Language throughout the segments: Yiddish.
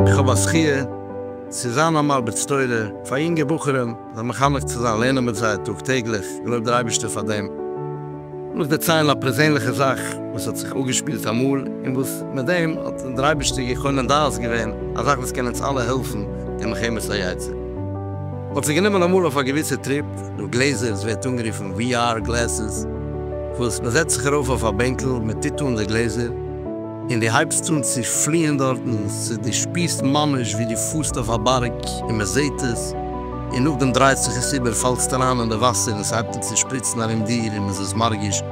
איך האב א זכי' צו זיין א מרביץ תורה פאר יונגע בחורים, זיי מחנך צו זיין, לערנען מיט זיי טאג טעגליך, געלויבט דער אייבערשטער פאר דעם. לאמיר דערציילן א פערזענליכע זאך וואס האט זיך אפגעשפילט אמאל, און וואס מיט דעם האט דער אייבערשטער געקונען דעת געווען, א זאך וואס קען אונז אלע העלפן אין מלחמת היצר. מ'האט זיך גענומען אמאל אויף א געוויסע טריפ דורך גלעזער, עס ווערט אנגערופן VR גלעסעס, וואס מ'זעצט זיך ארויף אויף א בענקל, מ'טוט אן די גלעזער, און דו הייבסט אן צו פליען דארטן, ס'איז דו שפירסט ממש ווי דו פארסט אויף א בארג און מען זעט עס, און נאכדעם דרייט זיך עס איבער, פאלסט אריין אין די וואסער און ס'הייבט אן צו שפריצן ארום דיר און מ'איז עס מרגיש,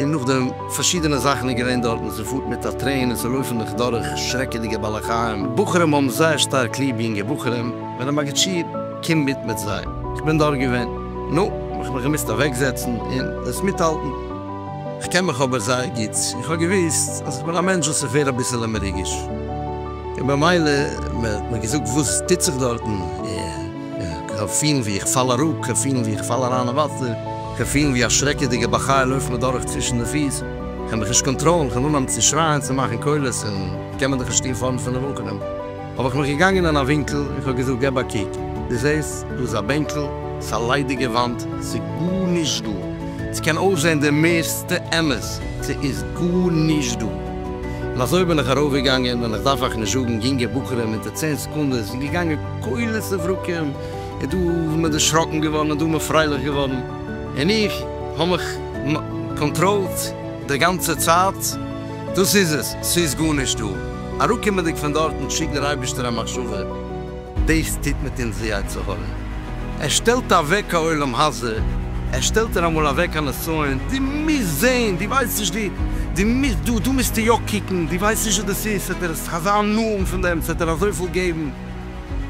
און נאכדעם. פארשידענע זאכן איז געווען דארטן, ס'פארט מיט א טרעין און ס'לויפן דיך דורך שרעקעדיגע בעלי חיים, בחורים האבן זייער שטארק ליב יונגע בחורים, ווען א מגיד שיעור קומט מיט מיט זיי, איך בין דארט געווען, נו, האב איך מיך געמוזט אוועקזעצן און עס מיטהאלטן. כ'קען מיך אבער זייער גוט, איך האב געוואוסט אז כ'בין א מענטש וואס איך ווער אביסעלע מרוגש, און במילא מען האט מיר געזאגט וואס טוט זיך דארטן, און כ'האב פילן ווי איך פאל אראפ, כ'האב פילן ווי איך פאל אריין אין וואסער, כ'האב פילן ווי א שרעקעדיגע בר חיל לויפט מיר דורך צווישן די פיס, כ'קען מיך נישט קאנטראלן, כ'האב אנגעהויבן צו שרייען, צו מאכן קולות, און כ'קען מער דאך נישט שטין פארנט פון די וואקעלן. האב איך מיך געגאנגען אין א ווינקל און כ'האב געזאגט געב א קוק, דו זעסט? דא איז א בענקל, ס'איז א ליידיגע וואנט, ס'איז גארנישט דא. ס'קען אויסזען די מערסטע אמת, ס'איז גארנישט דא. און אזוי בין איך ארויפגעגאנגען, און כ'דארף אייך נישט זאגן, יונגע בחורים אונטער צען סעקונדעס איז געגאנגען כולל סברקים, און דא איז מען דערשראקן געווארן און דא איז מען פרייליך געווארן, און איך האב מיך קאנטראלט די גאנצע צייט, דאס איז עס, ס'איז גארנישט דא. אראפקומענדיג פון דארטן שיקט דער אייבישטער א מחשבה, דאס טוט מיט אונז די יצר הרע, ער שטעלט אוועק א עולם הזה, ער שטעלט ער אמאל אוועק א נסיון, דו מוזט זען, דו ווייסט נישט, דו דו מוזט דא, דא מוזטו יא קוקן, דו ווייסט נישט וואס דאס איז, ס'וועט ער עס אזא נאענט פון דעם, ס'וועט ער אזויפיל געבן,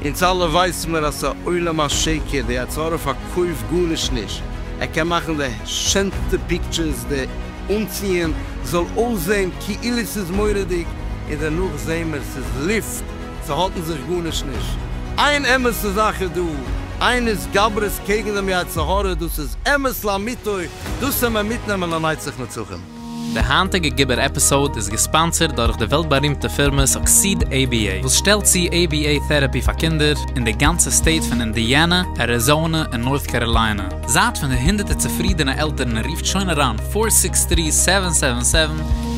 אונז אלע ווייסן מיר אז ס'עולם השקר, די יצר הרע פארקויפט גארנישט נישט, ער קען מאכן די שענסטע פיקטשערס, די. אנציען זאל אויסזעהן כאילו ס'איז מורא'דיג, און דערנאך זעהן מיר ס'איז לופט, ס'האלטן זיך גארנישט נישט. איין אמת'ע זאך איז דא, איין התגברות קעגן דעם יצר הרע, דאס איז אמת לאמיתו, דאס העמער מיטנעמען לנצח נצחים. די היינטיגע גיבור עפיסאוד איז געספאנסערד דורך די וועלט בארימטע פירמע סוקסיד עי בי עי וואס שטעלט צו עי בי עי טעראפי פאר קינדער אין די גאנצע סטעיט פון אינדיאנע, אריזאנע און נארט קאראליינע. זייט פון די הונדערטער צופרידענע עלטערן און רופט שוין אריין פֿאָר סיקס טרי סעווען סעווען סעווען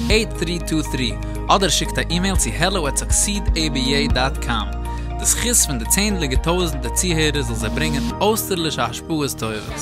עיט טרי טו טרי אדער שיקט א אימעיל צו העלא עט סאקסיד עי בי איי דאט קאם די זכות פון די צענדליגע טויזענטער צוהערער זאל זיי ברענגען אויסטערלישע השפעות טובות.